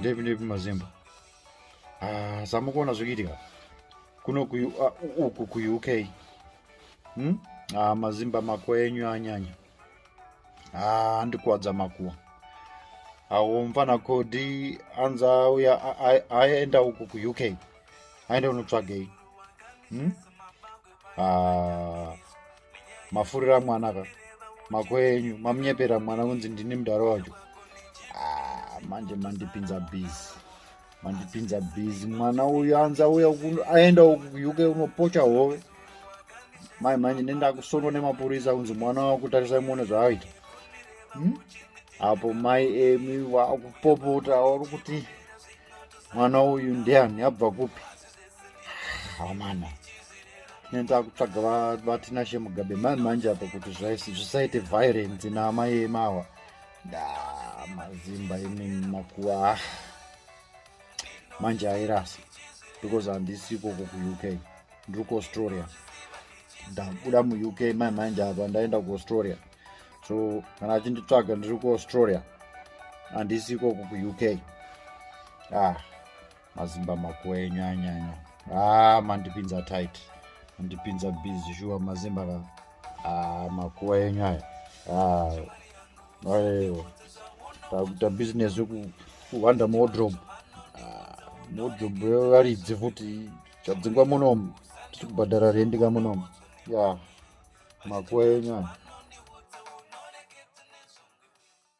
ndepi ndepi mazimba ah, samukuona zvikuitika kuno ah, uku kuuk hmm? ah, mazimba mako enyu anyanya ah, andikuwadza makuwa awo mfana kodi anza uya aenda uku kuuk aenda unotsvagei hmm? ah, mafurira mwana ka mako enyu mamunyepera mwana kunzi ndini mudhara wacho ah, manje mandipinza busy mandipinza busy mwana uyu anza uya aenda uk unopocha hove mai manje nendakusonwa nemapurisa kunzi mwana wakutarisa imone zvaaita hmm? apo mai emi vakupopota vari kuti mwana uyu ndiani abva kupi hamana nenda kutsvaga vatinashe mugabe mani manje apa kuti zvisaite violence naamai emawa nda mazimba imi makuwa ah. manje airasa because handisi ikoko kuuk ndiri kuaustralia ndabuda muuk mai manje apa ndaenda kuaustralia so kana achinditsvaga ndiri kuaustralia handisi ikoko kuuk ah mazimba makuwe nyanyanya ah mandipinza tight mandipinza busy shuwa mazimba ka ah makuwa enyu aya ah aiwa takuita business yekuhwanda modrobe ah, modrobe yevaridzi futi chadzingwa munomu tiri kubhadhara rendika munomu ya makuwa enyu aya